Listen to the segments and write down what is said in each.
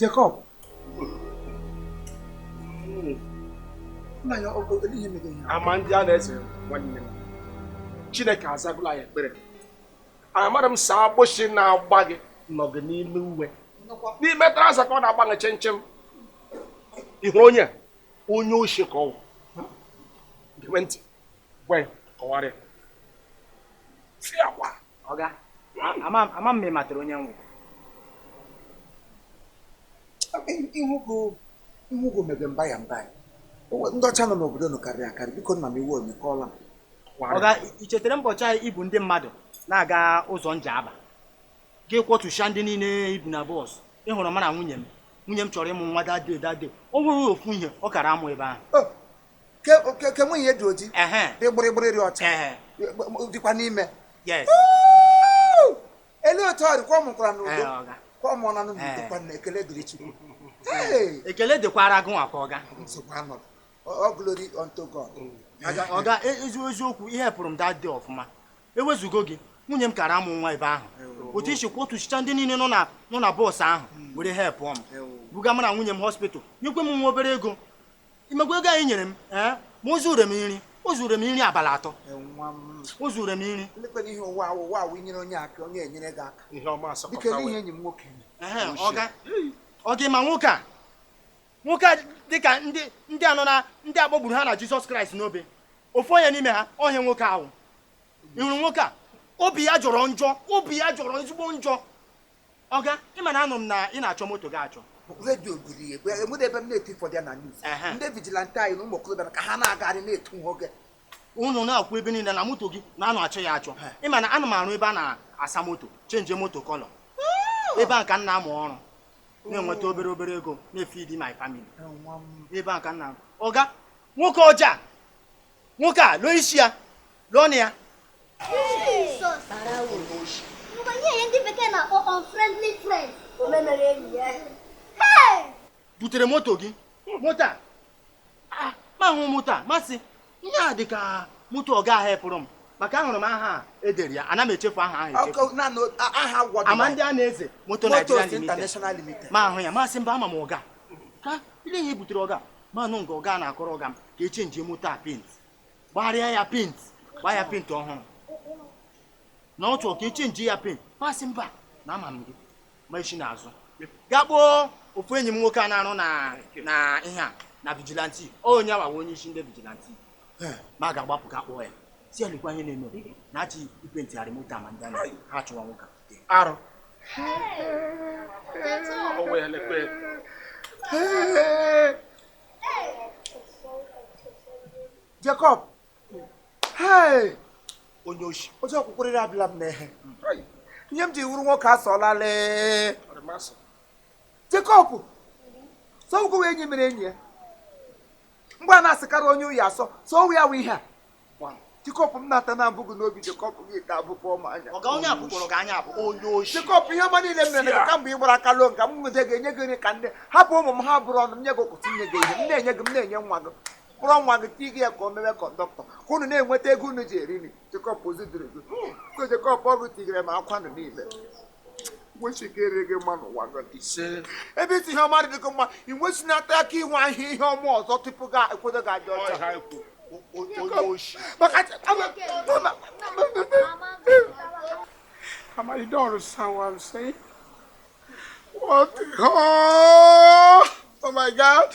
Jacob. Amandịanaeze nwanne m chineke azagụla ya ekpere amara m sị agbụsị na-agba gị nọ gị n'ime uwe n'ime traza ka ọ na-agba gị chimchim ị hụ onye onye oshi ka ọ wụ gebe ntị gwa ya kọwara ya fịakwa ọga ama m ma ị matara onye m wụ ị hụgo m ebe mba ya mba ndị ọcha nọ n'obodo unu karịrị akarị biko nna m ị wụ onye kọọla m ọga i chetara mbọchị ahụ i bu ndị mmadụ na-aga ụzọ Njaba gị kwọtụcha ndị niile i bu na bọs ị hụrụ mụ na nwunye m nwunye m chọrọ ịmụ nwa that day that day o nwere ofu ihe ọ kara amụ ebe ahụ Oh, ke- ke- ke nwunye dị oji ehe dị gbịrịgbịrị dị ọcha ehe dịkwanụ ime yes Woo! elee otu ọ dị kwa ọ mụkwara Ee, n'udo ọga. kwa ọ mụọla n'udo Ee. kwa na ekele dịrị chukwu Hey! ekele dịkwara gị nwa kwa ọga nsogbu anọrọ all glory unto god ọga e- ezi eziokwu i helpụrụ m that day ọfụma ewezugo gị nwunye m kara amụ nwa ebe ahụ otu i si kwọtụchicha ndị niile nọ na nọ na bọọsụ ahụ were help m buga mụ na nwunye m hospital nyekwe m nwa obere ego ị makwa ego ahụ i nyere m ee ma o zure m nri o zure m nri abalị atọ o zure m nri lekwanụ ihe ụwa a wụ ụwa a wụ i nyere onye aka onye enyere gị aka ihe ọma biko asọpụta lee ihe wee enyi m nwoke mere. Ehe, ọga ọga ị ma nwoke a nwoke a dị ka ndị ndị a nọ na ndị a kpọgburu ha na jizọs kraịst n'obe ofu onye n'ime ha ọ ihe nwoke a wụ ị hụrụ nwoke a obi ya jọrọ njọ obi ya jọrọ ezigbo njọ ọga ị ma na anụ m na ị na-achọ moto gị achọ redio gụrụ ya egbe e nwere ebe m na-eti ụfọdụ ya na news ndị vigilante anyị na ụmụ okorobịa ka ha na-agagharị na-etu ha oge unu na-ekwu ebe niile na moto gị na a na-achọ ya achọ ị ma na ana m arụ ebe a na-asa moto chenje moto kọlọ ebe a ka m na-amụ ọrụ na-enweta obere obere ego na-efidi my family n'ebe a ka m nọ ọga nwoke ọjọọ a nwoke a lee isi ya lee ọnụ ya butere moto gị moto a Ah, m ahụ moto a m asị ihe a dị ka moto ọga ahụ helpụrụ m maka ahụrụ m aha e dere ya ana m echefu aha ahụ echefu Amandịanaeze moto Nigeria Limited m ahụ ya m asị mba ama m ọga ka i lee ihe butere ọga m anụ nga ọga na-akọrọ ọga m ka e chenjie moto a paint gbagharịa ya paint gbaa ya paint ọhụrụ na ọ chọrọ ka e chenjie ya paint m asị mba na ama m gị m esi n'azụ gaa kpọọ ofu enyi m nwoke a na-arụ na na ihe a na vigilanti onye a wụ onye isi ndị vigilanti m aga agbapụ ga kpọọ ya sị ya lekwa ihe na-eme na achị ipe ntịgharị moto ama ndị anaghị ha chụwa nwoke ahụ Jacob onye oshi otu ọkwụkwụrịrị abịala m n'ehe ihe m ji wụrụ nwoke asọlala Jacob sọgwụgwụ enyi mere enyi ya mgbe a na-asịkarị onye oyi asọ so ọ wụ ya wụ ihe a Jacob m na-ata na abụghị n'obi Jacob gị ka abụkwa ọma anya Jacob ihe ọma niile m mere gị kamgbe ị gbara aka lọọ nka m nwede ga-enye gị nri ka ndị hapụ ụmụ m ha buru ọnụ m nye gị ụtụtụ nye gị ehihie m na-enye gị m na-enye nwa gị kpọrọ nwa gị tinye ya ka o mewe conductor ka unu na-enweta ego unu ji eri nri Jacob o zughịrị gị so Jacob ọgụ tigere ma akwa nụ niile nwechikere gị mma n'ụwa gị ise ebe isi ihe ọma dị gị mma ị nwechinata aka inwe ahịa ihe ọma ọzọ tupu gị ekwedo gị adị ọcha ọha ikwu o- o- onye oshi maka Amadi you don't understand what I'm saying? What? the- Oh, oh my God!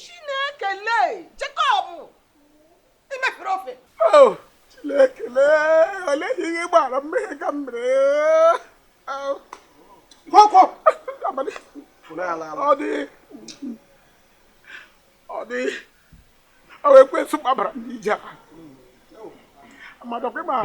Chineke lee Jacob i mefere ofe oh, Chineke lee olee ihe ị gbara mmehie ka m mere oh. kwọkwọ ọ dị ọ dị ọ wụ ekwensu gbabara m n'ije a Amadi ọ kwa ma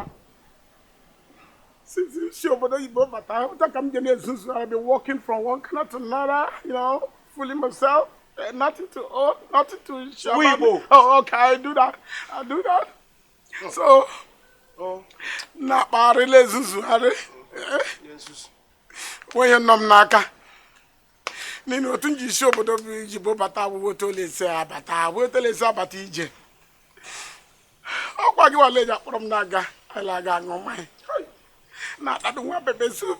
since m si obodo oyibo bata otu a ka m ji na-ezuzu I've been walking from one corner to another you know fooling myself. Eh, nothing to own, nothing to show. Weibo. Oh, okay, I do that. I do that. Oh. So, oh. na-akparị la-ezuzugharị o nweghị ihe nọ m n'aka n'ihi otu m ji si obodo oyibo bata ọ wụ otu a la-esi abata ọ wụ otu a la-esi abata ije ọ kwa gị wa la-eji akpọrọ m na-aga a la-aga aṅụ mmanya na-atadụ nwa pepper soup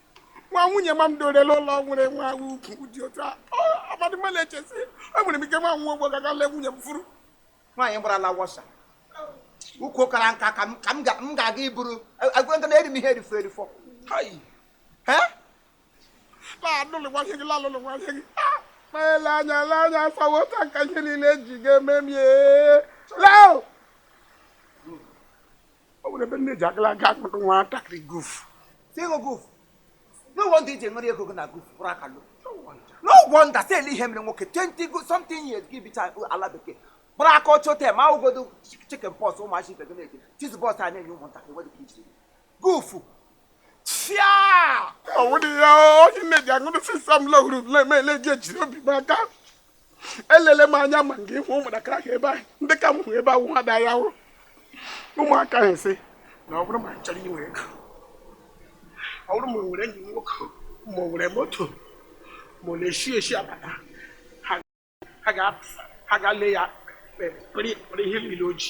nwa nwunye ọma m dọrọ la ụlọ nwere nwa ukwu dị otu a Amadi m na-eche sị o nwere m ike nwa nwa ogbo gaga lee nwunye m vuru nwaanyị gbarala wọsa ukwu kara nka ka m ga-aga iburu agwa nka na eri m ihe erifo erifo na-alụlụ nwa ihe gị lalụlụ nwa ihe gị ma ele anya ele anya asawa ụta nka ihe niile eji ga-eme m ee o nwere ebe nne ji agala aga akpụtụ nwatakịrị Golf ego Golf n'ụgwọ ndị iji enwere ego gị na Golf bụrụ akalụ n'ụgwọ nda si ele ihe mere nwoke 20 something years gị bicha ala bekee buru aka ọcha lọta ma ụgodo chicken pox ụmụachi ibe gị na-eji cheese balls a na-enye ụmụntakịrị nwere ike ijiri Golf fịa ọwụdị ya onye nne ji aṅụrụ sisa m lọhụrụ na-eme ele ji ejiri obi m aka elele m anya ma nke ịhụ ụmụntakịrị ahụ ebe ahụ ndị ka m hụ ebe ahụ ha da ya hụrụ ụmụaka ahụ sị na ọ bụrụ ma m chọrọ inwe ego ọ bụrụ ma nwere enyi nwoke ma ọ nwere moto ma ọ na-eshi ezi abata ha ga-ale ya kpere ihe niile o ji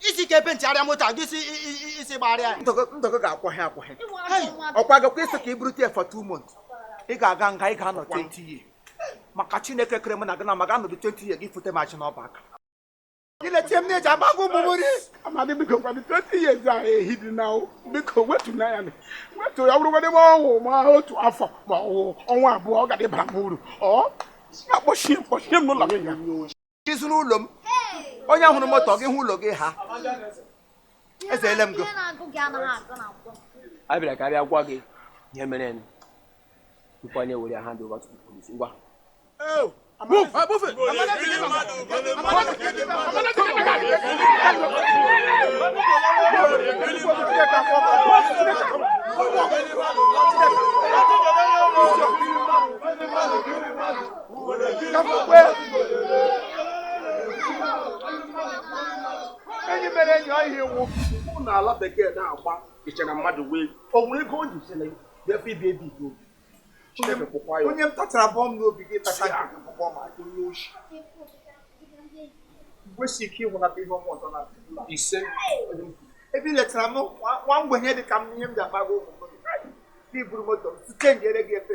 isi ike penti arịa moto a gị isi i- i- i- isi gbarịa ya ndọgọ ga-akwọghị akwọghị ọkwa gakwa iso ka i buru tie for two months ị ga-aga nga ị ga-anọ 20 years maka chineke kere m na gị na ma ga-anọdụ 20 years gị fute machi n'ọba aka gị na-etinye m na-eji akpago ụmụ m nri Amadi biko kwadị 20 years ehidị nne o. biko wetu na ya wetu ya bụrụgodị ma ọ wụ ma otu afọ ma ọ wụ ọnwa abụọ ọ ga-adịbara m uru ọ na-akpọchie mkpọchie m n'ụlọ nga ị zụrụ ụlọ m onye hụrụ moto gị hụ ụlọ gị ha ezeele m gị a bịara ka a bịa gwa gị ihe mere ka anyị were hand over to the police ngwa Move! Uh, move it! Thank you. enyi mere enyi ọ ihe iwu ụkwụ na ala bekee na-agba ịchara mmadụ wee o nwere ego o ji sịrị ya efe ibi ebi ego chineke kpọkwa ya onye m tachara bọọ m n'obi gị tacha nke gị bụkwa ma onye oshi kwesị ike ịhụ na ihe ọma ọzọ na ise ebe i letara m nwa mgbenye dị ka m ihe m ji akpago ụmụ m i buru moto m site njere gị efe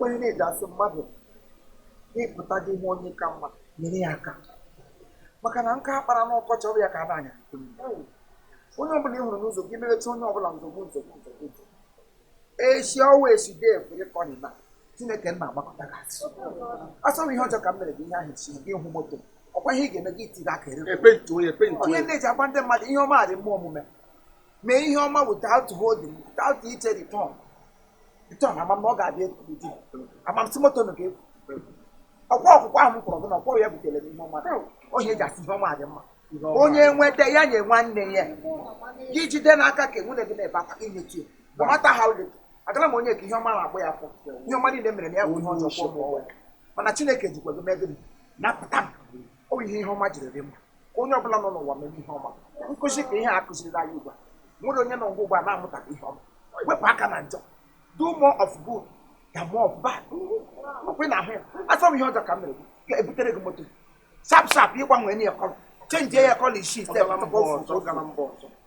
onye na-eji asị mmadụ ị pụta gị hụ onye ị ka mma nyere ya aka maka na nkụ a kpara n'ọkọchị ọ wụ ya ka a na-anya onye ọbụla ị hụrụ n'ụzọ gị merecha onye ọbụla nzogbu nzogbu nzogbu echi ọwa echi dee ekwere ka ọ na chineke nna agbakọta gị asị asọrọ ihe ọjọọ ka m mere gị ihe ahụ chi gị hụ moto ọkwa ihe ị ga-eme gị itiri aka ere onye na-eji agba ndị mmadụ ihe ọma dị mma omume mee ihe ọma without holding without iche return return ama m ọ ga-abịa ekwuji ama m si moto nụ ga-ekwu ọkwa ọkwụkwọ ahụ m kwọrọ gị na ọkwọ ya butere m ihe ọma ọ ya e ji asị ihe ọma dị mma onye nweta ya nye nwanne ya gị jide n'aka ka nwanne gị na-ebe akwa i nyetu ya no matter how little agara m onye ka ihe ọma na-agba ya afọ ihe ọma niile m mere na ya bụ ihe ọjọọ kwụọ m ụgwọ ya. mana chineke jikwa gị mee gịnị napụta m ọ bụ ihe ihe ọma jiri dị mma ka onye ọbụla nọ n'ụwa meme ihe ọma nkụzi ka ihe a kụzirila anyị ugbu a nwere onye nọ ngwa ugbu a na-amụtaghị ihe ọma wepụ aka na njọ do more of good than more of bad ọkwa na ahụ ya achọ m ihe ọjọọ ka m mere gị ebutere gị moto sharp sharp ị gbanwenye ya colour chenjie ya colour isii step